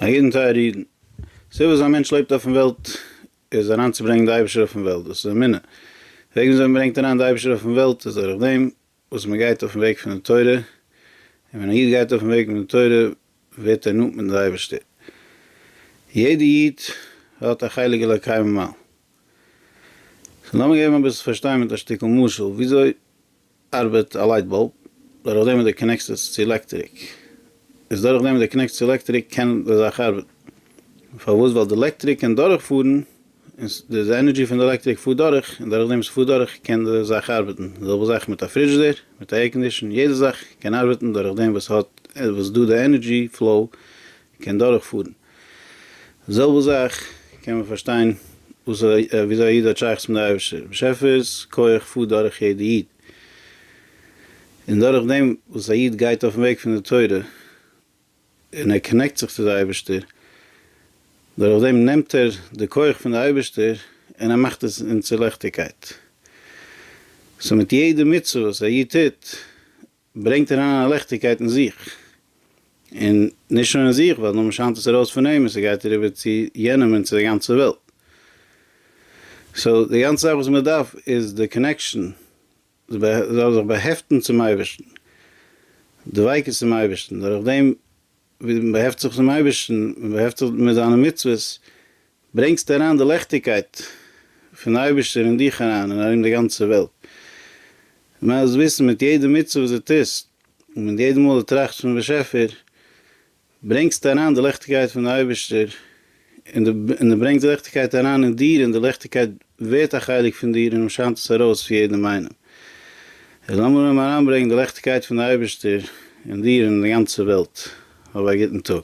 א יעדן טייערע אידן. סיבה וואס א מענטש לעבט אויפן וועלט איז אריין צו ברענגן די אייבערשטער אויפן וועלט דאס איז אמונה וועגן וויאזוי מען ברענגט אריין די אייבערשטער אויפן וועלט איז דורך דעם וואס מען גייט אויפן וועג פון די תורה און ווען א איד גייט אויפן וועג פון די תורה ווערט ער נאנט מיטן די אייבערשטער יעדע איד האט א חלק אלוקי ממעל סאו לאמיר געבן אביסל פארשטיין מיט א שטיקל משל וויאזוי ארבעט א לייט באלב דורך דעם וואס די קאנעקסט עס צו עלעקטריק, איז דורך דעם וואס די קאנעקסט צו עלעקטריק קען די זאך ארבעטן, פארוואס ווייל די עלעקטריק קען דורך פארן און די ענערדזשי פון די עלעקטריק פארט דורך און דורך דעם וואס עס פארט דורך קען די זאך ארבעטן, די זעלבע זאך מיט א פרידזשדער מיט א עירקאנדישן יעדע זאך קען ארבעטן דורך דעם וואס האט וואס דא די ענערדזשי פלאו קען דורכפארן. די זעלבע זאך קען מען פארשטיין וואס וויאזוי א איד האט שייכות מיט די אייבערשטער, באשעפער'ס כח פארט דורך יעדע איד, און דורך דעם וואס א איד גייט אויפן וועג פון די תורה און ער קאנעקט זיך צו די אייבערשטער, דורך דעם נעמט ער די כח פון די אייבערשטער און ער מאכט עס אין צו ליכטיגקייט. סאו מיט יעדע מצוה וואס א איד טוט ברענגט אריין א ליכטיגקייט אין זיך, און נישט נאר אין זיך, ווייל נאר מען שיינט עס ארויס פון אים און ס'גייט אריבער צו יענעם און צו די גאנצע וועלט. סאו די גאנצע זאך וואס מען דארף איז די קאנעקשאן, זיך באהעפטן צום אייבערשטן, דביקות צום אייבערשטן, דורכדעם ווי מען באהעפט זיך צום אייבערשטן, מען באהעפט זיך מיט זיינע מצוות, ברענגסטו אריין די לעכטיגקייט פון די אייבערשטער אין דיך אריין און ארום די גאנצע וועלט, מען מוז וויסן מיט יעדע מצוה וואס דו טוסט און מיט יעדע מאל דו טראכסט פונעם באשעפער, ברענגסטו אריין די לעכטיגקייט פון די אייבערשטער. און דו ברענגסט ליכטיגקייט אריין אין דיר, און די ליכטיגקייט ווערט א חלק פון דיר און שיינט עס ארויס צו יעדעם איינעם. און לאמיר אויבן אריינברענגן די ליכטיגקייט פון די אייבערשטער אין דיר און אין די גאנצע וועלט. האב א גוטן טאג.